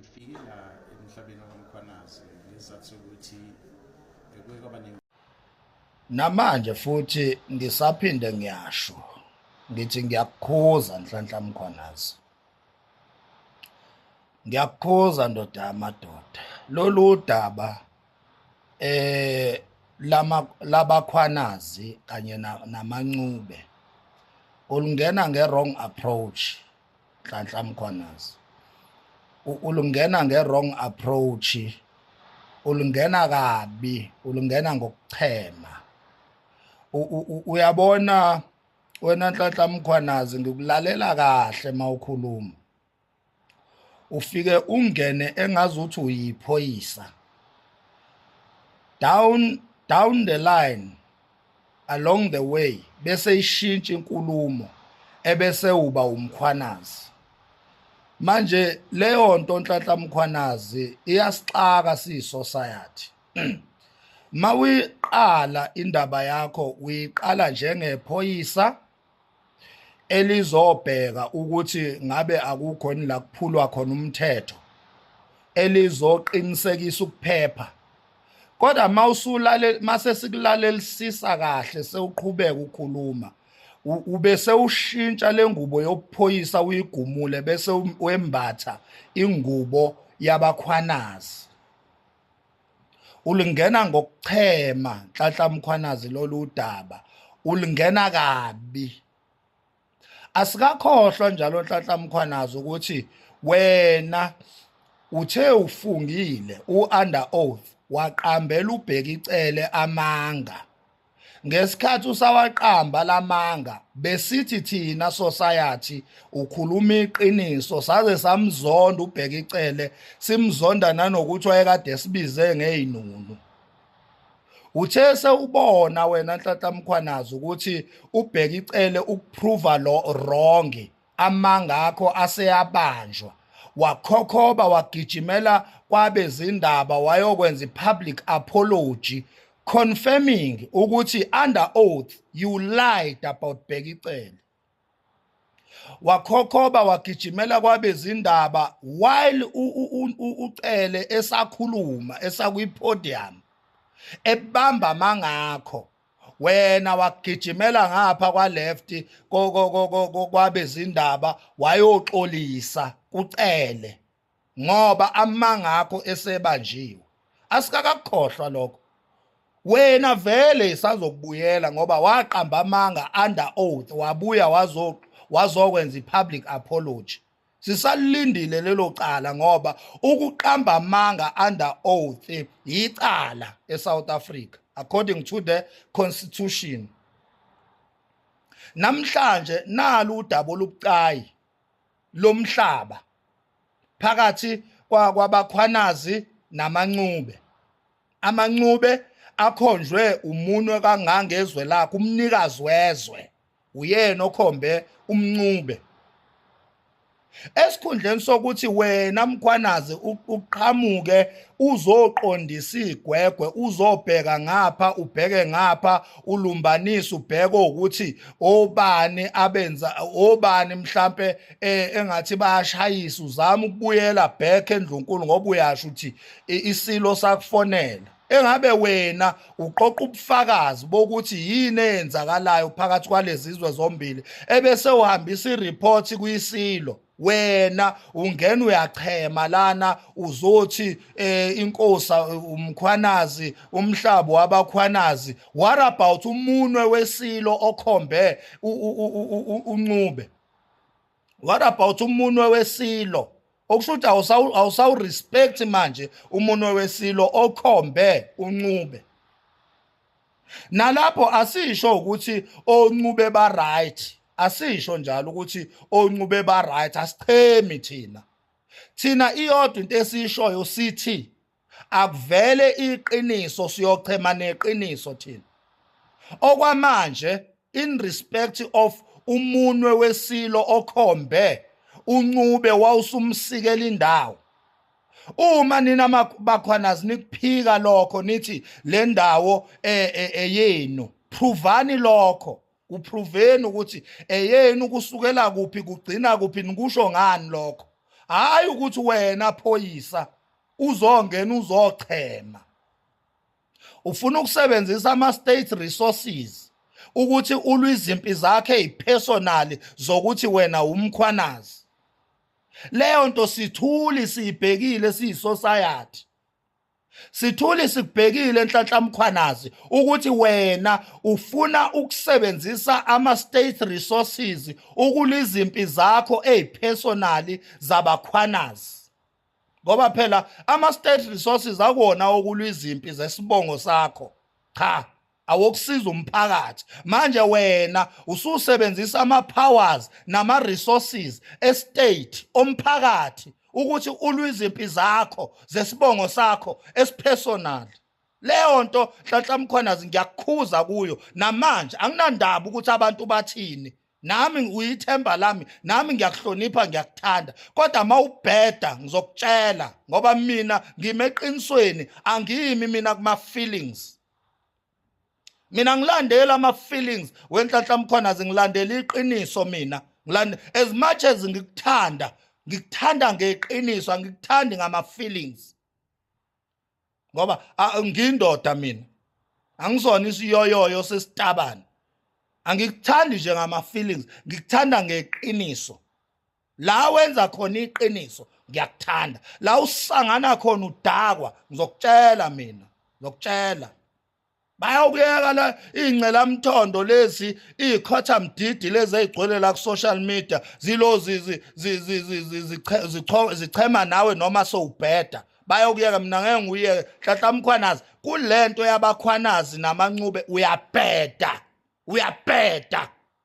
Ngifike la emhlabeni waMkhwanazi ngesizathu sokuthi bekuye kwaba namanje futhi ngisaphinde ngiyasho ngithi ngiyakukhuza nhlanhla mkhwanazi ngiyakukhuza ndoda yamadoda lolu daba eh lama labakhwanazi kanye namancube ulungena ngewrong approach nhlanhla mkhwanazi ulungena nge-wrong approach ulungena kabi ulungena ngokuchema uyabona wena nhlanhla mkhwanazi ngikulalela kahle mawukhuluma ufike ungene engazi ukuthi uyiphoyisa down down the line along the way bese ishintsha inkulumo ebese uba umkhwanazi manje leyo nto onhlanhla mkhwanazi iyasixaka siyisociety mawiqala indaba yakho uyiqala njengephoyisa elizobheka ukuthi ngabe akukho yini la kuphulwa khona umthetho elizoqinisekisa ukuphepha kodwa uma usulale mase sikulalelisisa kahle sewuqhubeka ukhuluma ube sewushintsha lengubo yokuphoyisa uyigumule bese wembatha ingubo yabakhwanazi ulingena ngokuchema nhlanhla mkhwanazi lolu daba ulingena kabi asikakhohlwa njalo nhlanhla mkhwanazi ukuthi wena uthe ufungile u-under oath waqambela ubheka icele amanga ngesikhathi usawaqamba lamanga besithi thina society ukhuluma iqiniso saze samzonda ubheka icele simzonda nanokuthi wayekade sibize ngeyinunu uthe sewubona wena nhlanhla mkhwanazi ukuthi ubheka icele ukuprova lo wrong amanga akho aseyabanjwa wakhokhoba wagijimela kwabezindaba wayokwenza i-public apology confirming ukuthi under oath you lied about Bheki Cele wakhokhoba wagijimela kwabezindaba while ucele esakhuluma esakwi-podium ebamba mangakho wena wagijimela ngapha kwa left kwabezindaba wayoxolisa kucele ngoba amanga akho esebanjiwe asikakakhohlwa lokho wena vele isazokubuyela ngoba waqamba amanga under oath wabuya wazo wazokwenza ipublic apology sisalindile lelo cala ngoba ukuqamba amanga under oath yicala eSouth Africa according to the constitution namhlanje nalu udaba olubucayi lomhlaba phakathi kwabakhwanazi namancube amancube akhonjwe umunwe kangangezwe lakhe umnikazi wezwe uyena okhombe umncube esikhundleni sokuthi wena mkhwanazi uqhamuke uzoqondisa igwegwe uzobheka ngapha ubheke ngapha ulumbanise ubheke ukuthi obani abenza obani mhlambe eh, engathi bayashayisa uzama ukubuyela back endlunkulu ngoba uyasho ukuthi isilo sakufonela engabe wena uqoqa ubufakazi bokuthi yini eyenzakalayo phakathi kwalezizwe zombili ebese uhambisa ireport kuyisilo wena ungena uyachema lana uzothi eh, inkosa umkhwanazi umhlabo wabakhwanazi what about umunwe wesilo okhombe uncube what about umunwe wesilo okusho ukuthi awusawurespect manje umunwe wesilo okhombe uncube nalapho asisho ukuthi oncube ba right asisho njalo ukuthi oncube ba right asichemi thina thina iyodwa into esishoyo sithi akuvele iqiniso siyochema neqiniso thina okwamanje in respect of umunwe wesilo okhombe uncube wawusumsikela indawo uma nina bakhwanazi nikuphika lokho nithi le ndawo eyenu eh, eh, eh, provani lokho kuproveni ukuthi eyenu kusukela kuphi kugcina kuphi nikusho ngani lokho hayi ukuthi wena phoyisa uzongena uzochema ufuna ukusebenzisa ama state resources ukuthi ulwe izimpi zakhe ipersonal zokuthi wena umkhwanazi leyo nto sithuli siyibhekile siyisosayathi Sithuli sikubhekile Nhlanhla Mkhwanazi ukuthi wena ufuna ukusebenzisa ama state resources ukulizimpi zakho ezipersonally zabakhwanazi ngoba phela ama state resources akona okulwizimpi zesibongo sakho cha awokusiza umphakathi manje wena ususebenzisa ama powers nama resources estate omphakathi ukuthi ulwiziphi zakho zesibongo sakho esipersonal leyo nto nhlanhla mkhwanazi ngiyakukhuza kuyo namanje anginandaba ukuthi abantu bathini nami uyithemba lami nami ngiyakuhlonipha ngiyakuthanda kodwa mawubheda ngizokutshela ngoba mina ngimeqinisweni angiyimi mina kuma feelings mina ngilandela ama feelings wenhlanhla mkhona zingilandela iqiniso mina ngilande as much as ngikuthanda ngikuthanda ngeqiniso angikuthandi ngama feelings ngoba ngindoda mina angisona isiyoyoyo sesitabani angikuthandi nje ngama feelings ngikuthanda ngeqiniso la wenza khona iqiniso ngiyakuthanda la usangana khona udakwa ngizokutshela mina ngizokutshela bayawukuyeka la ingcela mthondo lezi ikhotha mdidi lezi ezigcwele la ku social media zilozi zichema nawe noma sowubheda bayokuyeka mina ngeke nguyeke hlahla mkhwanazi kulento yabakhwanazi namancube uyabheda uyabheda